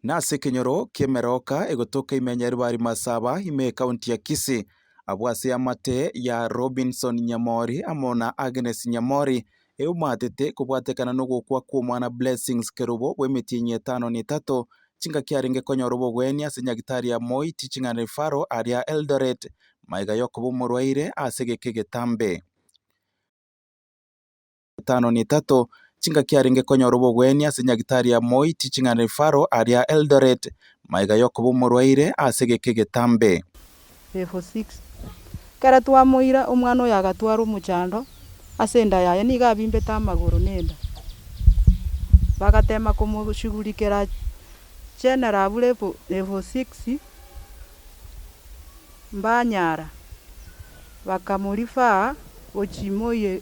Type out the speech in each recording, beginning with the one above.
Nase ekenyoro ki'emeroka egotoka ime ya Nyaribari Masaba ime ekaunti ya Kisii abwo ase eamate ya Robinson Nyamori amo na Agnes Nyamori eomaatete kobwatekana nogokwa kw'omwana Blessings Kerubo bw'emetienyi etano na etato chingaki arenge konyora obogwenia ase nyagitari ya Moi Teaching and Referral aria Eldoret maiga yokoba omorwaire ase egeka egetambe. etano na etato, chingaki arenge konyora obogwenia ase nyagitari ya moi Teaching and Referral aria Eldoret, maiga yokoba omorwaire ase egeka egetambe. Level 6. Ekero twamoira, omwana oyo agatwarwa omochando ase enda yaye, nigo abimbete amagoro na enda. Bagatema komoshughulikera General abwo Level, Level 6, mbanyara, bakamorefer gochia moi.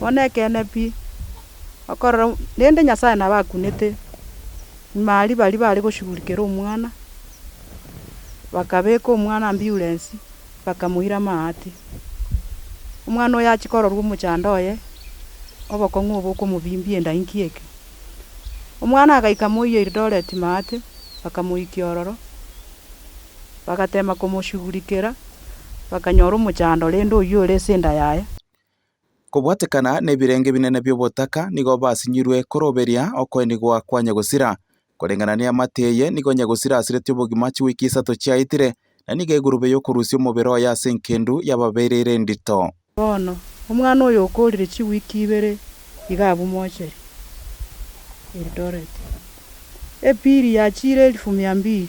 Bono nekeene pi, okorora rende Nyasae nabo akunete, nyuma aria baria bare goshugurikera omwana, bakabeka omwana amburensi, bakamoira amaate. Omwana oyo achia kororwa omochando oye, obokong'u obo okomobimbia enda inki eke. Omwana agaika moyia Eldoret maate, bakamoikia ororo, bagatema komoshugurikera, bakanyora omochando rende oyio ore ase enda yaye. Kobwatekana nebirenge binene bi'obotaka nigo basinyirwe koroberia okoenigwa kwa Nyagosira. Koreng'ana neamate eye nigo Nyagosira asireti obogima chiwiki isato chiaetire, na nigo egurube y'okorusia omobere oye ase enkendu yababeire ere endito. Bono, omwana oyo okoorire chiwiki ibere iga abwo mocheri Eldoret. Epili ya chire elifu mia mbili.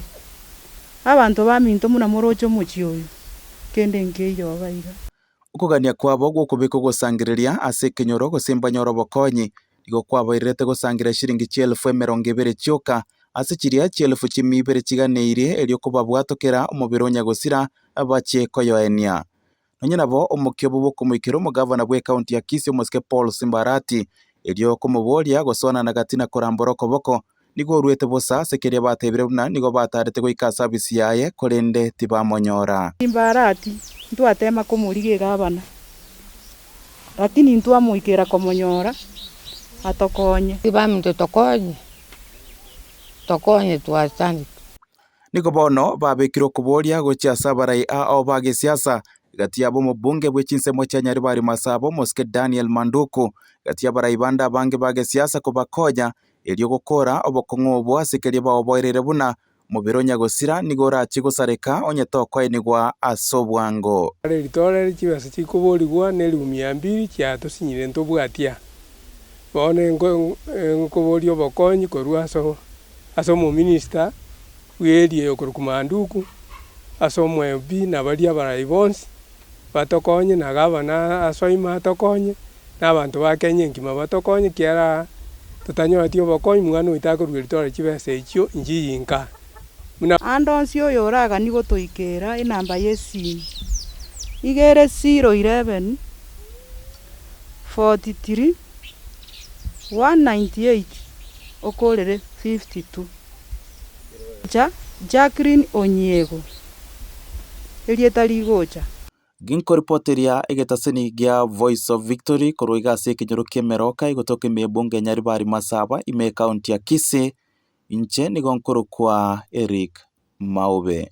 Abanto baminto buna moroche omochie oyo, kende nkeiyo oba iga. Okogania kwabo gw'okobeka ogosangereria ase ekenyoro gose mbanyore obokonyi nigo kwabairerete gosangereria chiringi chi'elfu emerongo ebere chioka ase chiria chi'elfu chi'mia ibere chiganeirie erio kobabwatokera omobere o Nyagosira bache koyoenia. Nonya nabo omokia obo bw'okomoikera omogavana bw'ekaunti ya Kisii omosike Paul Simbarati erio komoboria gosoanana gati na korambora okoboko Nigo oruete bosa ase keria batebire buna nigo bataarete goika ase abisi yaye, korende tibamonyora. Timbarati ntwateema komorigia egabana, lakini ntwamoikera komonyora atokonye. Tibaminto tokonye, tokonye twachandete. Nigo bono babekire okoboria gochia ase abarai ao ba gesiasa, egati yabo omobunge bwe chinsemo chia Nyaribari Masaba, omosike Daniel Manduku, egati y'abarai bande abange ba gesiasa kobakonya erio gokora obokong'u obo ase keria baoboereire buna mobere o nyagosira nigo orachie gosareka onye tokoenigwa ase obwango. Kare ritoorere chibesa chikoborigwa neribu mia mbiri chia tosinyire ntobwatia, bono inkoboria obokonyi korwa ase omominista bw'eria eyokorokwa Manduku, ase omwebi na baria abarai bonsi Batokonye, na gavana asoime atokonye, na abanto ba Kenya enkima batokonye, kiara totanyoreti obokonyi, mwana oito akorugeria tore chibesa echio inchi yinka, buna. Ande onsi oyo oragani gotoikera enamba y'esimu iga ere 011 43 198 okorere 52. Omosacha Jacqueline Onyiego. erieta rigocha. Ginkoripoteria egetaseni gia Voice of Victory korwa iga ase ekenyoro ki'emeroka egotoka emebunge enyari bari Masaba ime ekaunti ya Kisii, inche nigo nkorokwa Eric Maube.